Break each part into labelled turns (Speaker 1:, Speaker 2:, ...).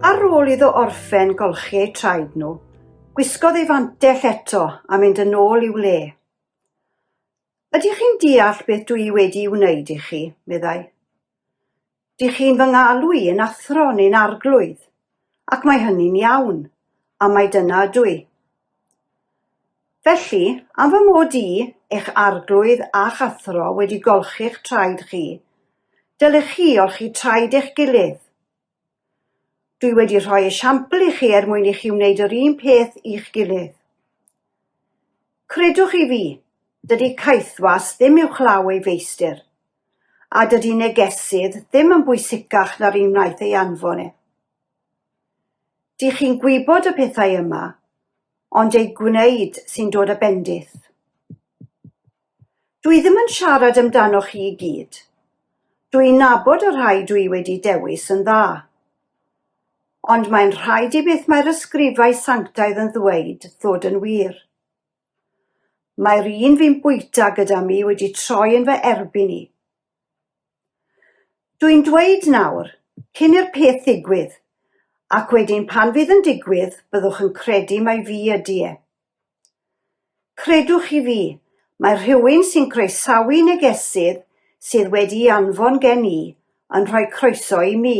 Speaker 1: Ar ôl iddo orffen golchi eu traed nhw, Gwisgodd ei fantell eto a mynd yn ôl i'w le. Ydych chi'n deall beth dw i wedi'i wneud i chi? meddai. Dych chi'n fy ngalw i yn athro neu'n arglwydd, ac mae hynny'n iawn, a mai dyna ydw i. Felly, am fy mod i, eich arglwydd a'ch athro, wedi golchi'ch traed chi, dylech chi olchi traed eich gilydd. Dwi wedi rhoi esiampl i chi er mwyn i chi wneud yr un peth i'ch gilydd. Credwch chi fi, dydy caethwas ddim uwchlaw ei feistr, a dydy negesydd ddim yn bwysicach na'r un wnaeth ei anfon e. Dych chi'n gwybod y pethau yma, ond eu gwneud sy'n dod â bendith. Dwi ddim yn siarad amdanoch chi i gyd. Dw i'n nabod y rhai dwi wedi dewis yn dda. Ond mae'n rhaid i beth mae'r ysgrifau sanctaidd yn ddweud ddod yn wir. Mae'r un fi'n bwyta gyda mi wedi troi yn fy erbyn i. Dw i'n dweud nawr, cyn i'r peth ddigwydd, ac wedyn pan fydd yn digwydd byddwch yn credu mai fi ydy e. Credwch chi fi, mae rhywun sy'n croesawu negesydd sydd wedi'i anfon gen i yn rhoi croeso i mi.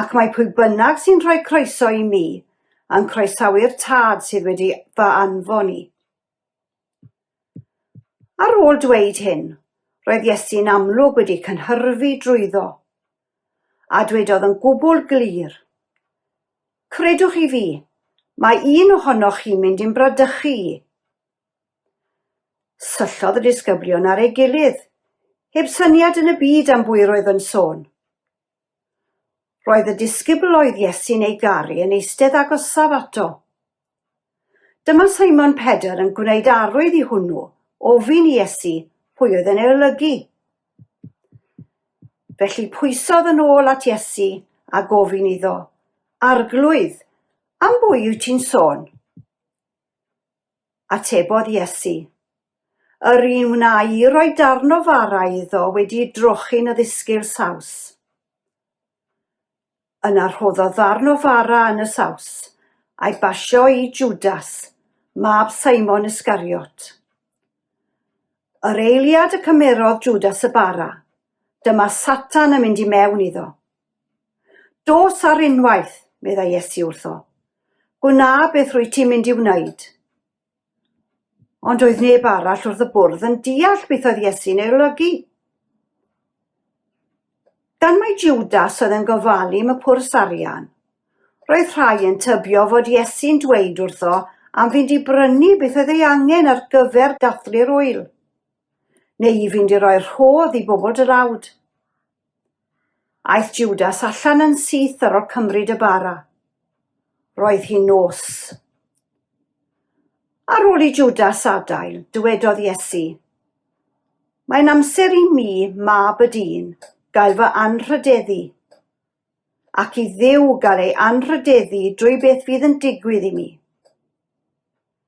Speaker 1: Ac mae pwy bynnag sy'n rhoi croeso i mi yn croesawu'r Tad sydd wedi fy anfon i. Ar ôl dweud hyn, roedd Iesu'n amlwg wedi cynhyrfu drwyddo. a dwedodd yn gwbl glir, Credwch chi fi, mae un ohonoch chi'n mynd i'm bradychu i. Syllodd y disgyblion ar ei gilydd, heb syniad yn y byd am bwy roedd yn sôn. Roedd y disgybl oedd Iesu'n ei garu yn eistedd agosaf ato. Dyma Simon Pedr yn gwneud arwydd i hwnnw, ofyn i Iesu pwy oedd yn ei olygu. Felly pwysodd yn ôl at Iesu a gofyn iddo, Arglwydd, am bwy wyt ti'n sôn? Atebodd Iesu, Yr un wna i roi darn o fara iddo wedi drochi'n y ddisgyl saws. Yna rhoddodd ddarn o fara yn y saws, a'i basio i Jwdas, mab Simon Iscariot. Yr eiliad y cymerodd Jwdas y bara, dyma Satan yn mynd i mewn iddo. Dos ar unwaith, meddai Iesu wrtho. Gwna beth rwy ti'n mynd i wneud. Ond oedd neb arall wrth y bwrdd yn deall beth oedd Iesu'n ei olygu. Gan mai Judas oedd yn gofalu am y pwrs arian, roedd rhai yn tybio fod Iesu'n dweud wrtho am fynd i brynu beth oedd ei angen ar gyfer dathlu'r wyl, neu i fynd i roi rhodd i bobl dlawd. Aeth Jwdas allan yn syth ar ol cymryd y bara. Roedd hi'n nos. Ar ôl i Jwdas adael, dywedodd Iesu, Mae'n amser i mi, mab y dyn, gael fy anrhydeddu, ac i Dduw gael ei anrhydeddu drwy beth fydd yn digwydd i mi.